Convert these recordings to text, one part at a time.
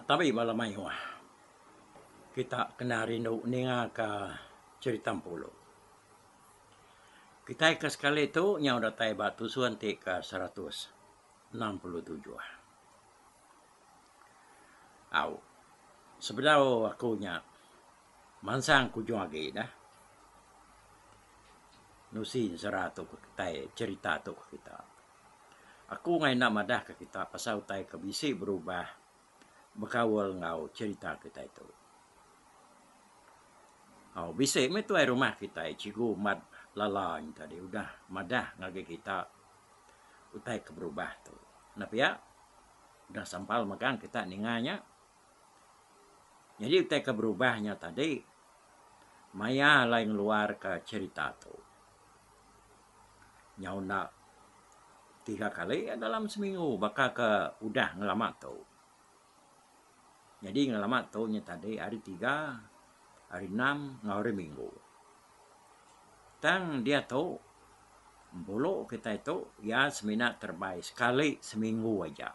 Tabi bala mayuh kita kena rindu ninga ka cerita Empulu. Kitai ke sekali tu nyau datai ba tusun ti ke seratus enam puluh tujuh. Au, sebedau aku nya mansang kujung agi dah nusin sera tu ke kitai, cerita tu ke kita. Aku angai enda madahka kita pasal utai ke bisi berubah bekaul enggau cherita kitai tu. Au bisi meh tuai rumah kitai Cikgu Mat Lala nya tadi udah madah ngagai kita utai ke berubah tu. Napiak udah sampal megang kita ninga nya. Nyadi utai ke berubah nya tadi maya alai ngeluarka cherita tu. Nyau enda tiga kali iya dalam seminggu baka ke udah ngelama tu. Nyadi ngelama tu nya tadi hari tiga, hari enam enggau hari minggu. Tang diatu Bengkulu kitai tu iya semina terebai sekali seminggu aja.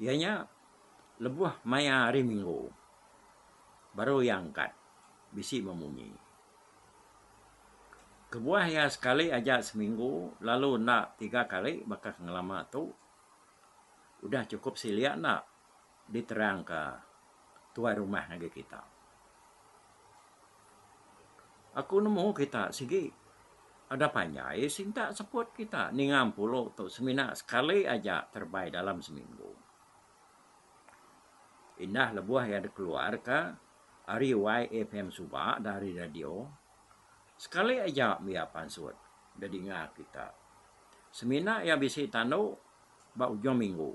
Iya nya lebuh maya hari minggu baru iya angkat bisi memunyi. Kebuah iya sekali aja seminggu lalu enda tiga kali bakah ngelama tu udah chukup silik enda. Diterangka tuai rumah ngagai kita. Aku nemu kita sigi ada panjai sintak seput kita ninga empulu tu semina sekali aja terebai dalam seminggu. Indah lebuh iya dikeluarka ari YFM suba dan ari radio, sekali aja mih iya pansut dedinga kita. Semina iya bisi tandu ba ujung minggu.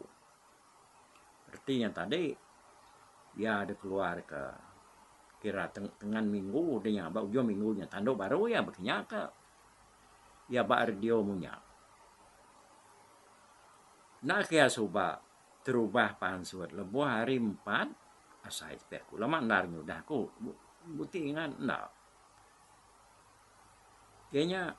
reti nya tadi iya dikeluarka kira tengan minggu deh nya ba ujung minggu nya tandu baru iya bekinya ka iya ba radio munya. Enda ke iya suba terubah pansut lebuh hari empat asai ti pia aku lama enda nyudah aku bu ti ngan enda. Ke nya,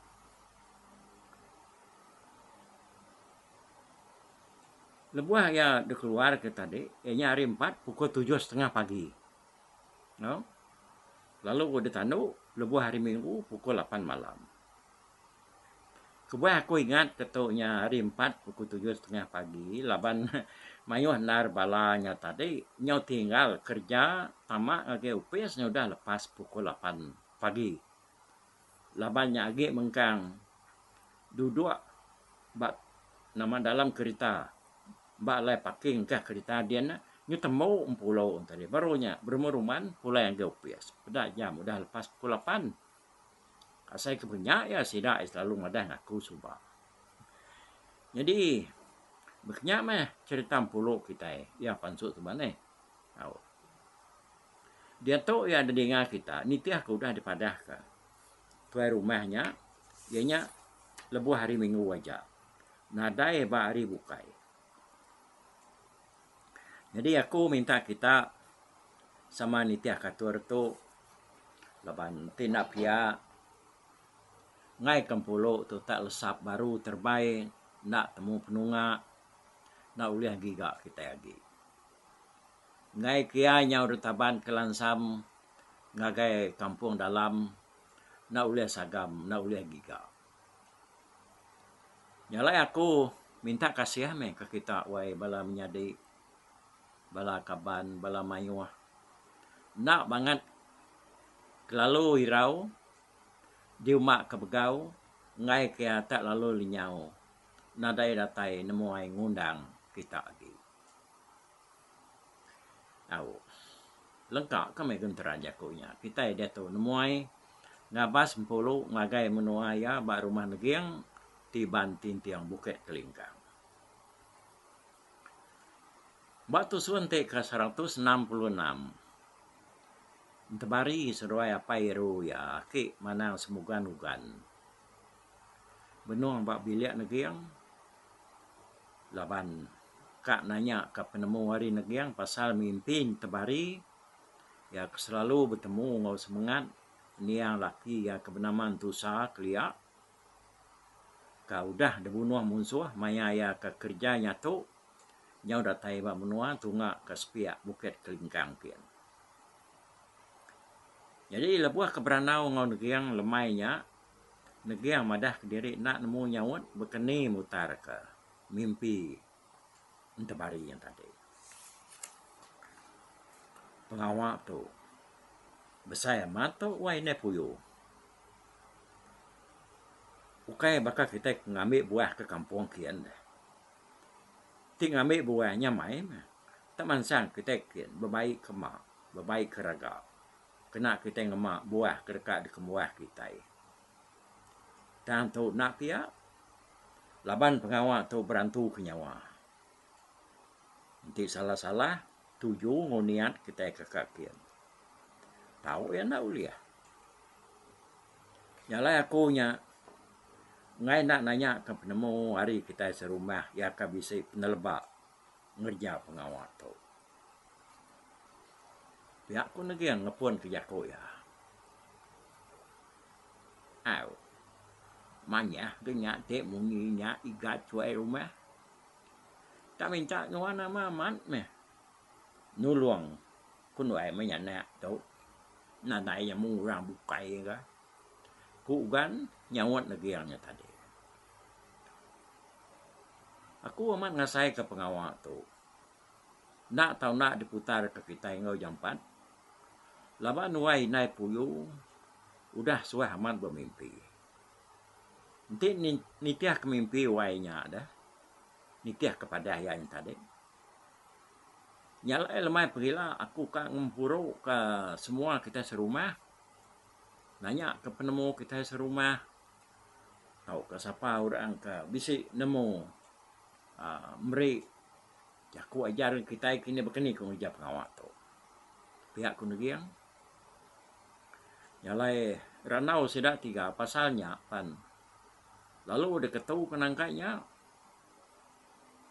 lebuh iya dikeluarka tadi, iya nya hari Empat pukul tujuh setengah pagi. Nau, lalu ku ditandu lebuh hari Minggu pukul lapan malam. Kebuah aku ingat ke tu nya hari Empat pukul tujuh setengah pagi laban mayuh endar bala nya tadi nyau tinggal kereja tama ngagai opis ngaudah lepas pukul lapan. Pagi. Laban nya agi mengkang duduk ba nama dalam kerita ba alai parking ka kerita din nyu tembu empulo enti hari baru nya berumah ruman pulai ngagai opis peda jam udah lepas pukul lapan. Asai ke pun nya iya sida iya selalu madah ngaku suba. Nyadi ba kinya meh cherita empulo kitai iya pansut suba neh. Au. Diatu iya nedinga kita nitih ke udah dipadahka tuai rumah nya iya nya lebuh hari minggu aja nadai ba hari bukai. Nyadi aku minta kita sama nitih katur tu laban ti enda pia ngaika empulu tu tak lesap baru terebai enda temu penunga enda ulih giga kitai agi. Enggai ke iya nyau deka taban ke lansam ngagai kampung dalam enda ulih sagam enda ulih giga. Nya alai aku minta kasih meh ke kita wai bala menyadi bala kaban bala mayuh enda bangat kelalu irau diuma ke begau enggai ke iya tak lalu lenyau nadai datai nemuai ngundang kita agi. Au. Lengka ka meh genteran jaku nya. Kitai diatu nemuai ngabas empulu ngagai menua iya ba Rumah Neging ti ba entinting Bukit Kelingkang. Ba tusun ti ke seratus enam puluh enam, entebari seduai apai eru iya aki manang semugan ugan. benung ba bilik neging laban ka nanya ka penemu ari neging pasal mimpi nyi tebari iya ke selalu betemu enggau semengat niang laki iya ke benama Entusa kelia ka udah dibunuh munsuh maya iya ke kerja nyatu nyau datai ba menua tunga ka sepiak Bukit Kelingkang ti. Jadi lebuh ke berandau enggau neging lemai nya, neging madah kediri enda nemu nyaut bekeni mutarka mimpi entemari nya tadi. Pengawa tu besai amat tu wai indai puyu. Ukai baka kitai ke ngambi buah ke kampung kiye neh. Ti ngambi buah nya mai meh. Tang mansang kitai kin bebai ke ma, bebai ke raga kena kitai ngema buah ke deka dikembuah kitai. Tang tu enda pia laban pengawa tu berantuka nyawa. Enti salah-salah tuju enggau niat kitai ke ka kin, tau iya enda ulih. Nya alai aku nya enggai enda nanyaka penemu ari kitai serumah iya ka bisi peneleba ngereja pengawa tu. Pia ku negin nepun ke jaku iya. Au. Manyah ke nya ti munyi nya igat suai rumah. Tak minta nuan nama amat meh nulung ku nuai menyanak tu nadai iya mung orang bukai ka. Ku Ugan nyaut negin nya tadi. Aku amat ngasaika pengawa tu. Enda tau enda diputarka kitai enggau jampat. Laba nuai indai puyu udah suah amat bemimpi. Enti nitihka mimpi wai nya deh, nitihka padah iya nya tadi. Nya alai lemai pengila aku ka ngempuruka semua kitai serumah, nanyaka penemu kitai serumah. tauka sapa orang ke bisi nemu aaa meri jaku ajar kitai kini baka ni ku ngereja pengawa tu. Pia ku neging jalai randau sida tiga pasal nya pan lalu deka tu ke nangka nya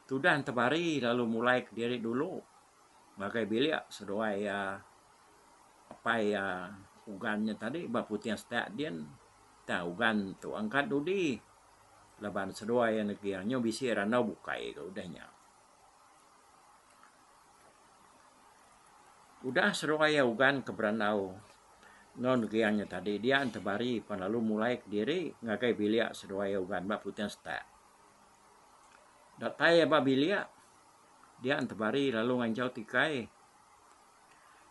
tudah tebari lalu mulai kediri dulu. ngagai bilik seduai iya apai iya Ugan nya tadi ba Puting Setak din tang Ugan tu angkat dudi laban seduai iya neging anyu bisi randau bukai ga udah nya. Udah seduai iya Ugan ke berandau enggau neging nya tadi dia enti bari pan lalu mulai kediri ngagai bilik seduai iya Ugan ba Puting Setak. Datai iya ba bilik Dia Entebari lalu nganjau tikai.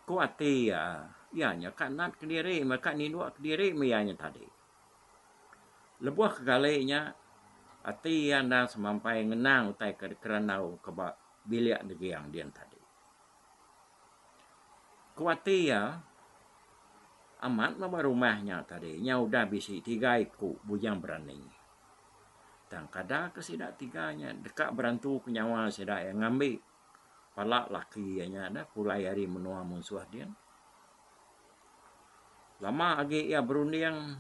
Ku ati iya, iya nya ka nat kediri meh ka ninduk kediri meh iya nya tadi. Lebuh kegali nya, ati iya endang semampai ngenang utai ke dikerandau ke ba bilik neging din tadi. Ku ati iya, amat meh ba rumah nya tadi nya udah bisi tiga iku bujang berani. Tang kada ke sida tiga nya deka berantuka nyawa sida iya ngambi pala laki iya nya dah pulai ari menua munsuh din. Lama agi iya berunding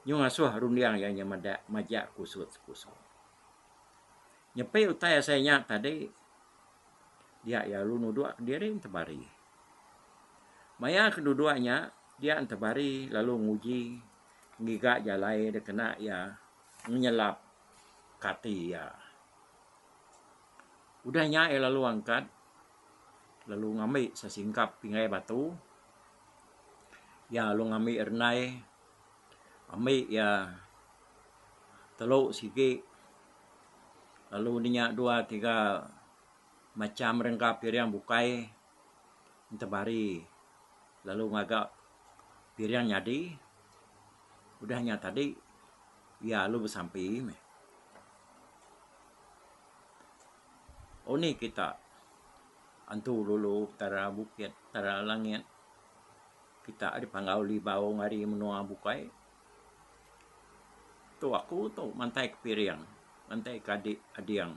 nyu ngasuh runding iya nya meda majak kusut sepusok. Nyepi utai asai nya tadi dia iya lalu nudok kediri enta bari. Maya kedudok nya dia enta bari lalu nguji ngiga jalai da kena iya menyelap kati iya. Udah nya iya lalu angkat lalu ngambi sesingkap pingai batu iya lalu ngambi renai ambi iya telu sigi lalu nya dua tiga macham rengka piring bukai. Entabari lalu ngaga piring nyadi udah nya tadi iya lalu besampi meh. Unih kita antu dulu Petara bukit Petara langit kita dipanggau libau ari menua bukai tu aku tu mantai ke piring mantai ke adi ading.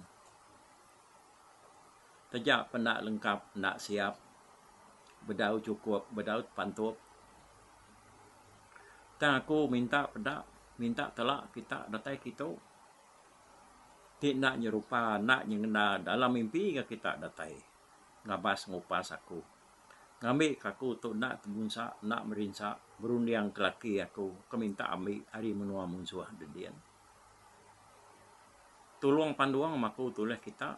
Taja penda lengkap enda siap, bedau chukup bedau tepantup. Tang aku minta peda, minta tela kita datai ke itu ti enda nyerupa enda nyengenda dalam mimpi ga kita datai ngabas ngupas aku ngambi ke aku tu enda temunsa enda merinsa berunding ke laki aku ke minta ambi ari menua munsuh dinding. Tulung pandung maku tulih kita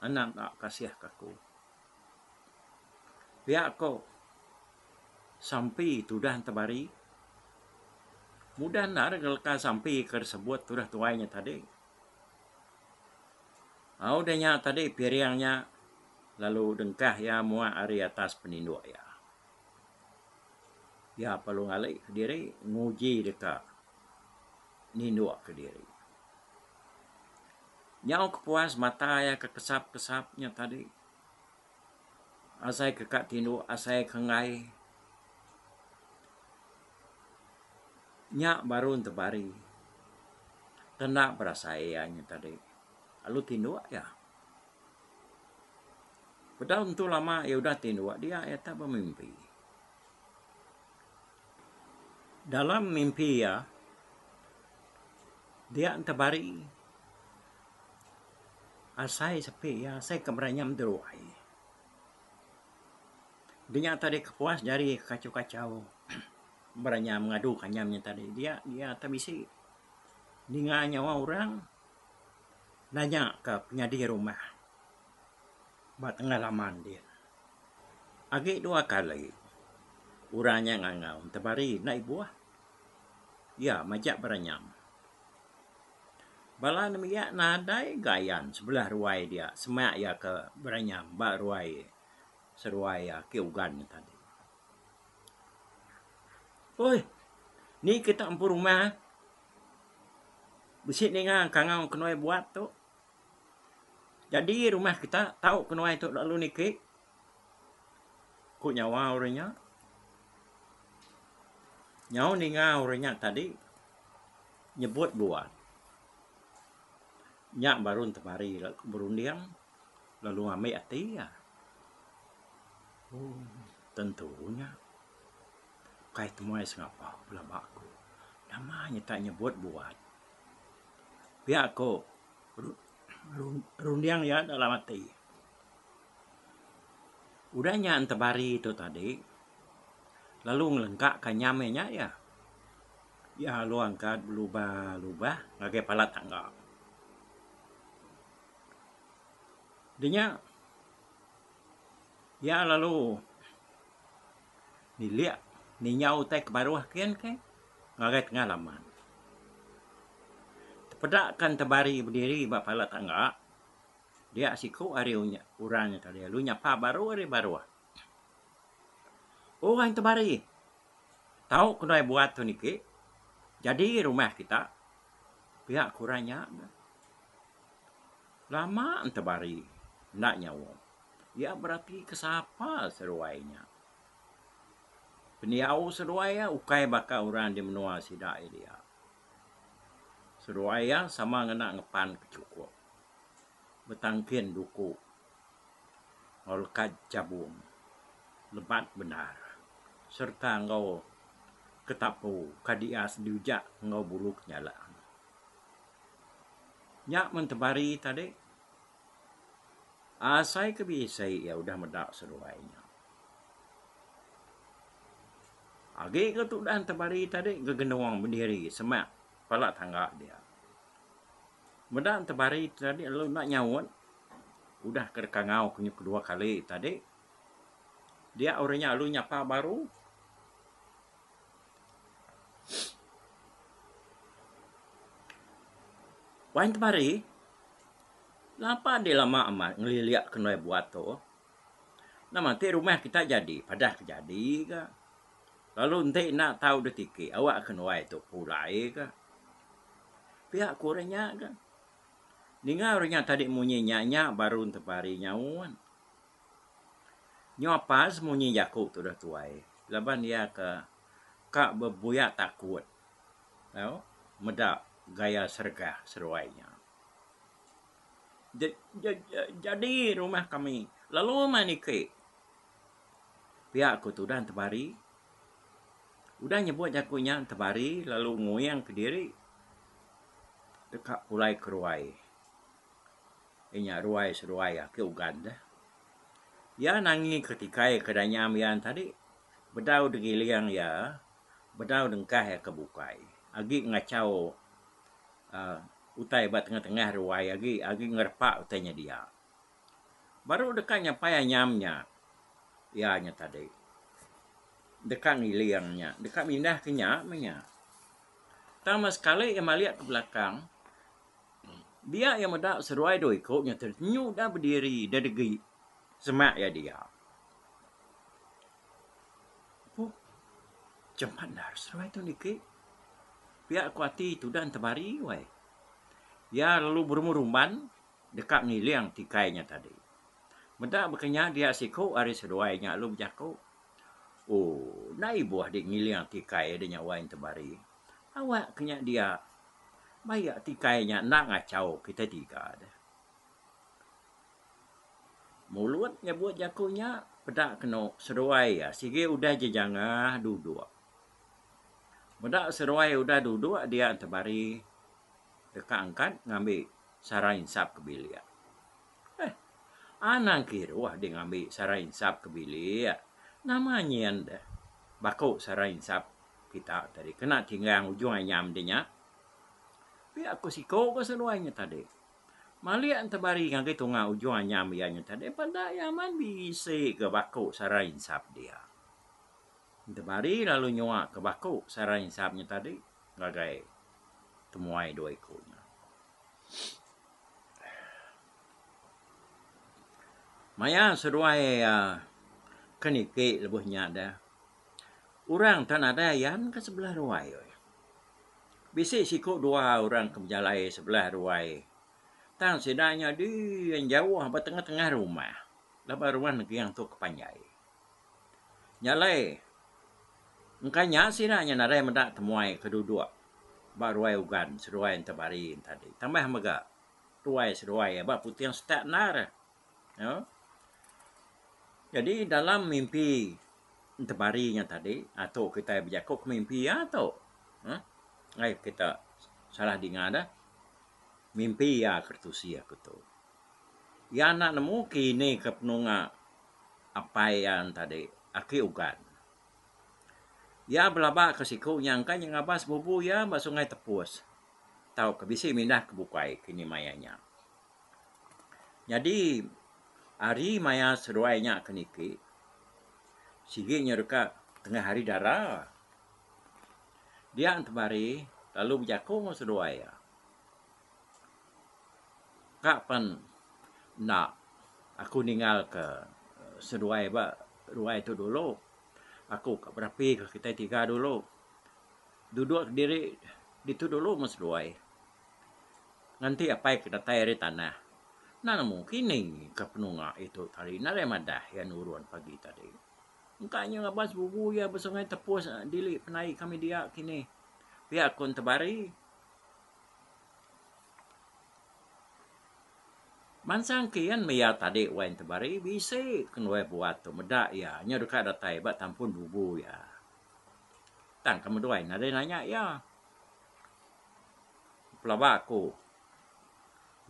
anak da kasih ka aku. Pia ko sampi tudah tebari mudah enda re leka sampi ke sebut tudah tuai nya tadi. Au deh nya tadi piring nya lalu dengkah iya muak ari atas peninduk iya. Iya perlu ngalihka diri nguji deka nindukka diri. Nyau ke puas mata iya ke kesap-kesap nya tadi asai ke ka tinduk asai ke enggai nya baru entebari tenda berasai iya nya tadi lalu tinduk iya. Bedau entu lama iya udah ti dua dia iya tau bemimpi. Dalam mimpi iya dia tebari asai sepi iya asai ke beranyam ti ruai. Denya tadi kepuas jari kekachau-kachau beranyam ngadu ke anyam iya tadi dia dia tau bisi ninga nyawa orang nanya ke penyadi rumah. Ba tengah laman dih, agi dua kali orang nya ngangau entebari enda ibuh iya majak beranyam. Bala nembiak nadai gayan sebelah ruai dia sema iya ke beranyam ba ruai seruai ake Ugan nya tadi. Uih ni kita empu rumah bisi ninga kangau ke nuai buat tu. Jadi rumah kita tau kenuai tu lalu niki ku nyawa orang nya nyau ninga orang nya tadi nyebut bua nya baru temari berunding lalu ambi ati iya. Ooh tentu nya kai temuai sengapa pelaba aku nama nyebut bua. Pia ko runding iya dalam ati udah nya entebari tu tadi lalu ngelengka ka nyam iya nya iya. Iya lalu angkat belubah lubah ngagai palat tangga. Dinya iya lalu. Nilik ninyau utai ke baruh kin ke ngagai tengah laman. Tepeda ke enta bari bediri ba pala tangga dia siku ari orang nya tadi lalu nyapa baru ari baruh. Orang enta bari tau ke nadai buat tu niki jadi rumah kita pia ke orang nya. Lama enta bari enda nyawa. Iya berati ke sapa seruai nya? Pendiau seruai iya ukai baka orang di menua sida iya dia. Seruai iya sama ngena ngepan ke chukup, betangkin duku enggau lekad chabung lebat bendar sereta enggau ketapu ka dias diujak enggau bulu kenyalang. Nya men tebari tadi. Asai ke bisi iya udah meda seduai nya. Agi ke tudan temali tadi gegenung bediri semak pala tangga dia. Meda temali ti tadi lalu enda nyaut udah ke dikangau ke kedua kali tadi dia orang nya lalu nyapa baru. Wan temali. Lapa deh lama amat ngelilik kenoi buat tu. Nama ti rumah kita jadi padah ke jadi ga. Lalu enti enda tau ditiki awak kenoi tu pulai ga. Pia ku orang nya ga. Ninga orang nya tadi munyi nya nya baru tebari nyaun. Nyau apas munyi jaku tu dah tuai laban iya ke ka bebuyak takut tau meda gaya sergah seruai nya. Jadi rumah kami lalu meh niki. Pia ku tudan tebari. Udah nyebut aku nya tebari lalu nguyang kediri deka pulai ke ruai. Inya ruai seruai ake ugan deh. Iya nangi ke tikai ke danya mian tadi bedau digiling iya, bedau dengkah iya ke bukai agi ngachau uhh utai ba tengah-tengah ruai agi agi ngerepa utai nya dia. Baru deka nyapai anyam nya iya nya tadi deka ngiling nya deka mindah ke nya meh nya. Tang mas sekali iya malik ke belakang dia iya meda seruai dua iku nya tu nyu udah bediri udah degi semak iya dia. Puk cemandar seduai tu niki pia ku ati tudan temari wai. Iya lalu berumur rumban deka ngiling ti kai nya tadi. Meda baka nya dia siku ari seduai nya lalu bejaku ooh enda ibuh di ngiling ti kai de nya wai temari. Awak ke nya dia bayak ti kai nya enda ngachau kita tiga deh. Mulut nyebut jaku nya peda kenu seduai iya sigi udah jejangah duduk. Meda seduai udah duduk dia enti bari deka angkat ngambi sara insap ke bilik. Heh anang kiruh deh ngambi sara insap ke bilik. Nama nyin deh baku sara insap kita tadi kena tinggang ujung anyam deh nya. Pia ku siku ke seduai nya tadi. Malik entebari ngagai tunga ujung anyam iya nyutai deh peda iya amat bisi ga baku sarai insap dia. Entebari lalu nyua ka baku sarai insap nya tadi ngagai temuai dua iku nya. Maya seduai aaa ke niki lebuh nya deh Orang tau nadai ayan ke sebelah ruai weh. Bisi siku dua orang ke bejalai sebelah ruai tang sida nyadi yang jauh ba tengah-tengah rumah laban rumah nengking tu ke panjai. Nya alai engka nya sida nya nadai meda temuai ke duduk ba ruai Ugan seduai enta Barie enta dih. Tambah mega ruai seduai ba Puting Setak endar. Iya. Jadi dalam mimpi entemari nya tadi, atuk kitai bejaku ke mimpi iya tu. Uhh. Ai kita salah dinga dah. Mimpi iya ke retusi aku tu. Iya enda nemu ke ini ke penunga apai iya tadi, aki Ugan. Iya belaba ke siku nya engka nya ngabas sebubu iya ba Sungai Tepus tauka bisi mindah ke bukai kini maya nya. Nyadi, ari maya seduai nya ke niki, sigi nya deka tengah hari dara. Dia temari lalu bejaku enggau seduai iya, Ka pen enda aku ninggalka seduai ba ruai tu dulu. Aku ka bedapika kitai tiga dulu. Duduk diri ditu dulu meh seduai. nganti apai ke datai ari tanah. Enda nemu kini ke penunga itu tadi enda alai madah iya nurun pagi tadi. Engka inya ngaban sebubu iya ba sungai tepus dili penai kami dia kini pia ko Entebari. Bansa engkin meh iya tadi wai Entebari bisi ke nuai buat tu meda iya inya deka datai ba tampun bubu iya. Tang ke meduai nadai nanya iya. pelaba aku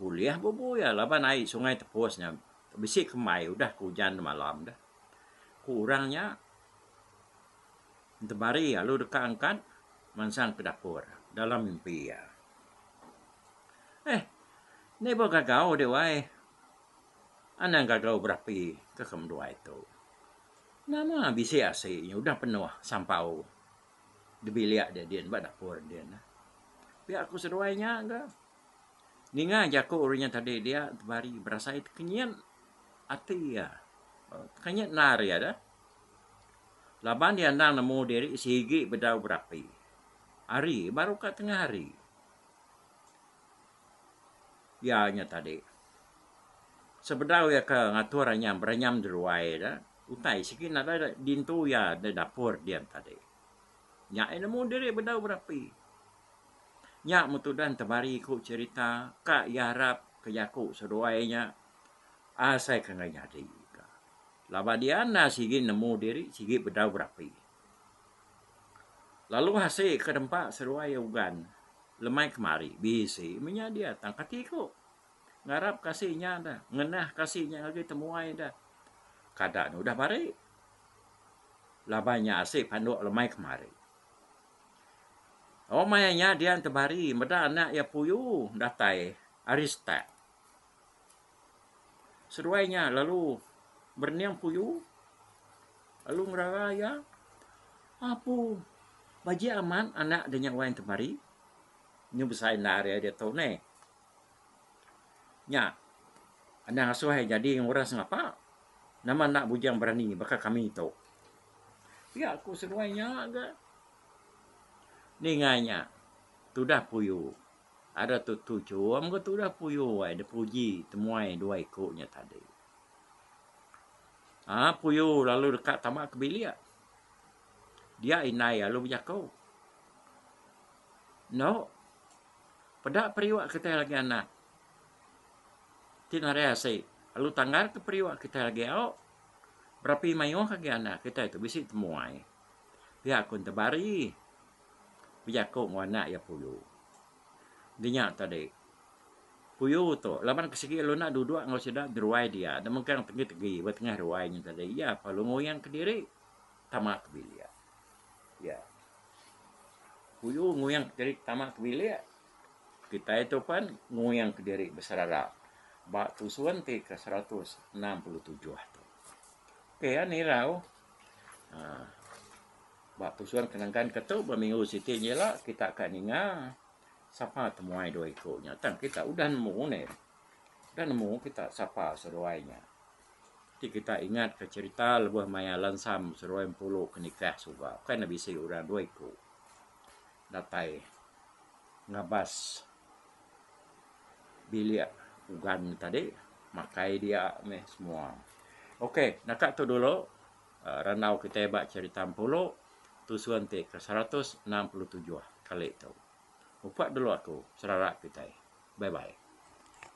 ulih bubu iya laban ai sungai tepus nya bisi kembai udah ke ujan malam dah ku orang nya temari lalu deka angkat mansang ke dapur dalam mimpi iya. Eih ni ba gagau dih wai anang gagau berapi ke ke menua itu nama bisi asi nya udah penuh sampau. dibilik dia din ba dapur din. Pia ku seduai nya ga ninga jaku uri nya tadi dia tebari berasai tekenyit ati iya. Tekenyit endar iya da laban dia endang nemu diri sigi bedau berapi hari baru ka tengah hari iya nya tadi sebedau iya ke ngatur anyam berenyam di ruai da. Utai sigi nadai dintu iya da dapur dian tadi. Nya iya nemu diri bedau berapi. Nya meh tudan temari ku cherita ka iya arap ke jaku seduai nya asai ke enggai nyadi ka. Laban dian enda sigi nemu diri sigi bedau berapi. Lalu asi ke nempa seduai ugan lemai kemari bisi meh nya dia tang kati ku. ngarap kasih inya da ngenah kasih inya ngagai temuai da kada ne udah bari laban inya asik panduk lemai kemari. Oh maya nya dian tebari meda anak iya puyu datai ari start. Seduai nya lalu berening puyu lalu ngerara iya apu bajik amat anak de nya wai temari nyu besa inda ari ditu neh. Nya. Anang asoh ai nyadi enggau orang sengapa. Nama enda bujang berani baka kami tu. Pia ku seduai nya ga. Ninga nya tudah puyu. Ada tu Tu Chum enggau tudah puyu ai da puji temuai dua iku nya tadi. Aa puyu lalu deka tama ke bilik. Dia indai lalu bejaku. Eno. Peda periuk kitai lagi anak ti nadai asi lalu tanggar ke periuk kitai lagi au berapi mayuh agi anak kitai tu bisi temuai pia ku enta Bari bejaku enggau anak iya Puyu. Dinya tadi Puyu tu laban ke sigi lalu enda duduk enggau sida jeruai dia enda megang tegi-tegi ba tengah ruai nya tadi iya pa lalu nguing kediri tama ke bilik. Iya. Puyu nguyangka diri tama ke bilik. Kitai tu pen nguyangka diri beserara ba tusun ti ke seratus enam puluh tujuh tu. Okey ya nirau aaa ba tusun ke nengkan ke tu ba minggu siti inji ila kita ka ninga sapa temuai dua iku nya tang kita udah nemu neh. Udah nemu kita sapa seduai nya. Ti kita ingat ka cerita lebuh maya lansam seruai empulu ke nikah suba kai ne bisi orang dua iku datai ngabas bilik ugan ne tadi makai dia meh semua. Ok naka tu dulu aaa randau kita ba cerita empulu tusun ti ke seratus enam puluh tujuh kali tu. Upa dulu aku serara kitai. Bye bye.